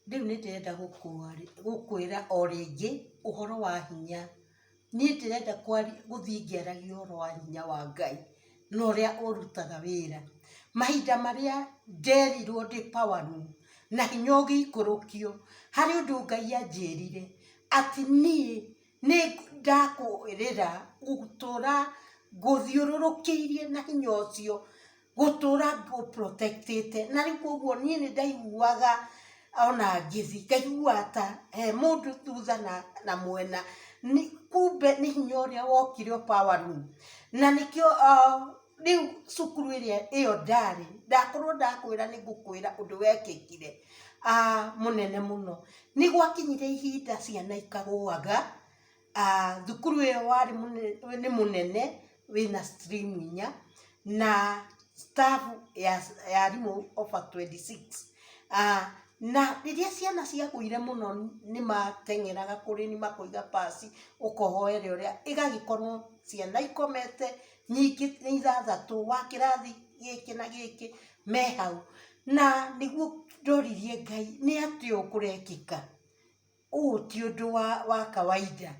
Rĩu nĩ ndĩrenda gũkwĩra o rĩngĩ ũhoro wa hinya. Niĩ ndĩrenda gũthiĩ ngĩaragia ũhoro wa hinya wa Ngai na ũrĩa ũrutaga wĩra. Mahinda marĩa nderirwo ndĩ power room na hinya ũgĩikũrũkio, harĩ ũndũ Ngai anjĩrire atĩ niĩ... Nĩ ndakũrĩra gũtũra ngũthiũrũrũkĩirie na hinya ũcio, gũtũra ngũ protect ĩte. Na rĩu kũoguo niĩ nĩ ndaiguaga ona ngĩthiĩ ngaiguaga ta he mũndũ thutha na mwena, kumbe nĩ hinya ũrĩa wokire ũpower room. Na nĩkĩo. rĩu cukuru ĩrĩa ĩyo ndarĩ ndakorwo ndakwĩra nĩ ngũkwĩra ũndũ wekĩkire ah, mũnene mũno nĩ gwakinyire ihinda ciana ikagũaga ah, thukuru ĩyo warĩ mũne- nĩ mũnene wĩna stream inya na staff ya ya arimũ over 26 ah, na rĩrĩa ciana ciagũire mũno nĩ mateng'eraga kũrĩ nĩ makoiga pasi ũkohoere ũrĩa ĩgagĩkorwo ciana ikomete nyingĩ nĩ ithathatũ wa kĩrathi gĩkĩ na gĩkĩ me hau, na nĩguo ndoririe Ngai nĩ atĩa ũũ kũrekĩka? Ũũ ti ũndũ wa wa kawaida.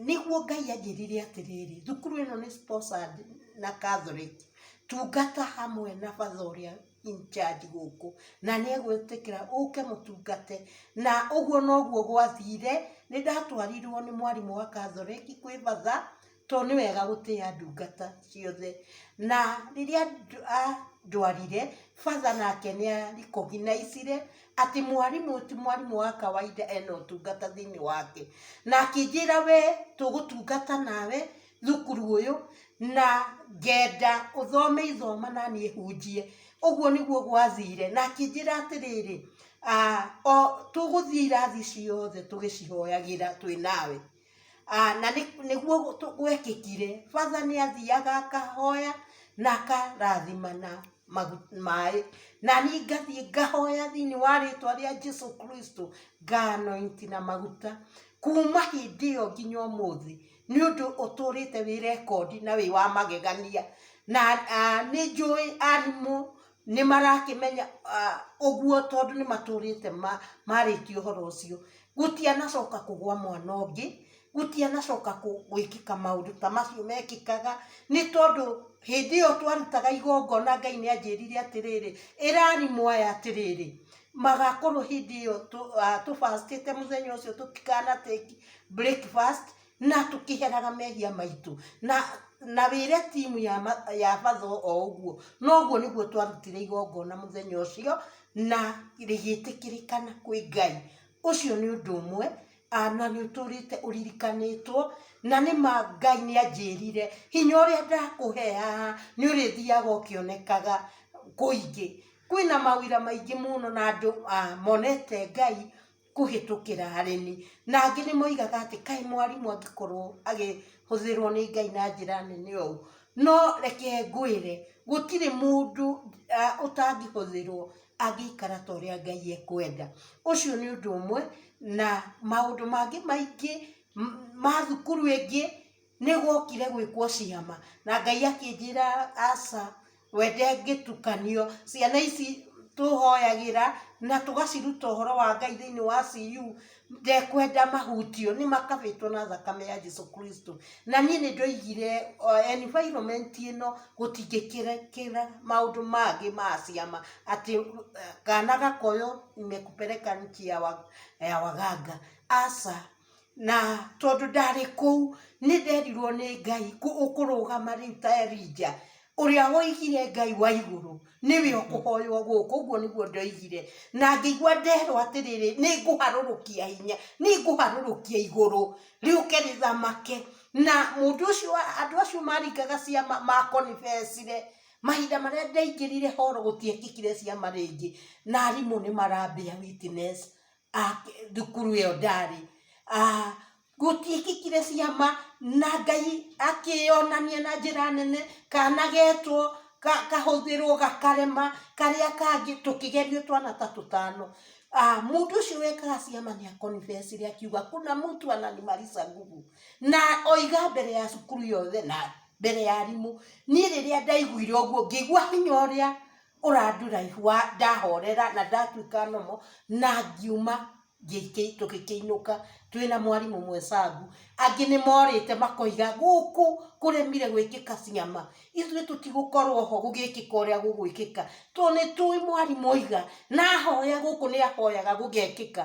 Nĩguo Ngai anjĩrire atĩrĩrĩ, thukuru ĩno nĩ sponsored na Catholic, tungata hamwe na Father ũrĩa in charge gũkũ, na nĩ egwĩtĩkĩra ũke mũtungate. Na ũguo noguo gwathire, nĩ ndatwarirwo nĩ mwarimũ wa Catholic kwĩ Father, tondũ nĩ wega gũtĩa ndungata ciothe. Na rĩrĩa andwarire, father nake nĩ a recognizire atĩ mwarimũ ũyũ ti mwarimũ wa kawaida ena ũtungata thĩinĩ wake. Na akĩnjĩra we tũgũtungata nawe thukuru ũyũ, na ngenda ũthome ithoma na niĩ hunjie. Ũguo nĩguo gwathire. Na akĩnjĩra atĩrĩrĩ, tũgũthiĩ irathi ciothe tũgĩcihoyagĩra twĩ nawe. Na nĩguo gwekĩkire, father nĩ athiaga akahoya na akarathima na maĩ, na niĩ ngathiĩ ngahoya thĩinĩ wa rĩtwa rĩa Jesu Kristo, nga anoint na maguta. Kuuma hĩndĩ ĩyo nginya ũmũthĩ, nĩ ũndũ ũtũrĩte wĩ rekondi na wĩ wa magegania. Na nĩ njũĩ arimũ nĩ marakĩmenya ũguo tondũ nĩ matũrĩte marĩtie ũhoro ũcio. Gũtianacoka kũgũa mwana ũngĩ, gũtianacoka gwĩkĩka maũndũ ta macio mekĩkaga, nĩ tondũ hĩndĩ ĩyo twarutaga igongona Ngai nĩ anjĩrire atĩrĩrĩ, ĩrai mwaya atĩrĩrĩ, magakorwo hĩndĩ ĩyo tũ fast ĩte mũthenya ũcio tũtikana take breakfast. na tũkĩheraga mehia maitũ na na wĩre timu ya, ma, ya matho o ũguo noguo nĩguo twarutire igongona mũthenya ũcio na rĩgĩtĩkĩrĩkana kwĩ ngai ũcio nĩ ũndũ ũmwe ah, na nĩ ũtũrĩte ũririkanĩtwo na nĩ ma ngai nĩ anjĩrire hinya ũrĩa ndakũhe haha nĩ ũrĩthiaga ũkĩonekaga kũingĩ kwĩna mawĩra maingĩ mũno na andũ ah, monete ngai kũhĩtũkĩra arĩmi. Na angĩ nĩ moigaga atĩ kaĩ mwarimũ angĩkorwo akĩhũthĩrwo nĩ Ngai na njĩra nene ũũ. No reke ngwĩre gũtirĩ mũndũ ũtangĩhũthĩrwo angĩikara ta ũrĩa Ngai ekwenda. Ũcio nĩ ũndũ ũmwe na maũndũ mangĩ maingĩ ma thukuru ĩngĩ. Nĩ gwokire gwĩkwo ciama, na Ngai akĩnjĩra aca, we ndangĩtukanio. Ciana ici tũhoyagĩra, na tũgaciruta ũhoro wa Ngai thĩinĩ wa CU, ndekwenda mahutio, nĩ makabĩtwo na thakame ya Jesu Kristo. Na niĩ nĩ ndoigire environment ĩno, gũtingĩkĩrekĩka maũndũ mangĩ ma ciama, atĩ kana gakoywo nimekupeleka nchi ya waganga. Aca. Na tondũ ndarĩ kũu, nĩ nderirwo nĩ Ngai kũrũgama rĩu ta Elija, ũrĩa woigire Ngai wa igũrũ, nĩwe ũkũhoywo gũkũ, ũguo nĩguo ndoigire. Na ngĩigua nderwo atĩrĩrĩ, nĩ ngũharũrũkia hinya, nĩ ngũharũrũkia igũrũ rĩũke rĩthamake. Na mũndũ ũcio andũ acio maringaga ciama makonibecire, mahinda marĩa ndaingĩrire horo gũtiekĩkire ciama rĩngĩ, na arimũ nĩ marambĩa witness. ah, thukuru ĩyo ndarĩ ah, gũtiĩkĩkire ciama na ngai akĩyonania na njĩra nene kanagetwo ka- kahũthĩrwo gakarema karĩa kangĩ tũkĩgerio twana ta tũtano Ah, mũndũ ũcio wekaga ciama nĩ akonibecire akiuga kuna mtu ananimarisa nguvu na oiga mbere ya cukuru yothe na mbere ya arimũ niĩ rĩrĩa ndaiguire ũguo ngĩigua hinya ũrĩa ũranduraihu wa ndahorera na ndatuĩka nomo na ngiuma ngĩikĩ- tũgĩkĩinũka twĩna mwarimũ ũmwe cangu angĩ nĩ morĩte makoiga gũkũ kũremire gwĩkĩka ciama ithuĩ tũtigũkorwo ho gũgĩkĩka ũrĩa gũgwĩkĩka tondũ nĩtũĩ mwarimũ oiga na ahoya gũkũ nĩahoyaga gũgekĩka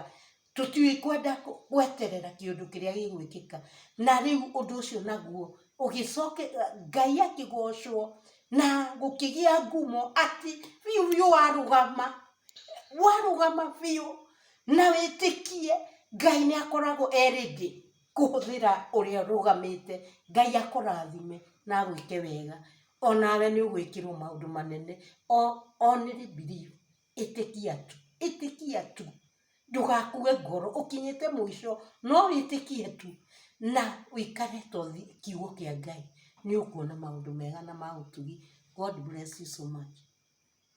Tũtikwenda gweterera kĩũndũ kĩrĩa gĩgwĩkĩka. Na rĩu ũndũ ũcio naguo ũgĩcoke, Ngai akĩgocwo na gũkĩgĩa ngumo atĩ biũ biũ warũgama, warũgama biũ na wĩtĩkie Ngai nĩ akoragwo e ready kũhũthĩra ũrĩa ũrũgamĩte. Ngai akũrathime na agwĩke wega. O nawe nĩ ũgwĩkĩrwo maũndũ manene. Only believe. ĩtĩkia tu, ĩtĩkia tu, ndũgakue ngoro, ũkinyĩte mũico, no wĩtĩkie tu, na wĩkare to thi kiugo kĩa Ngai, nĩũkuona maũndũ mega na ma ũtugi, God bless you so much.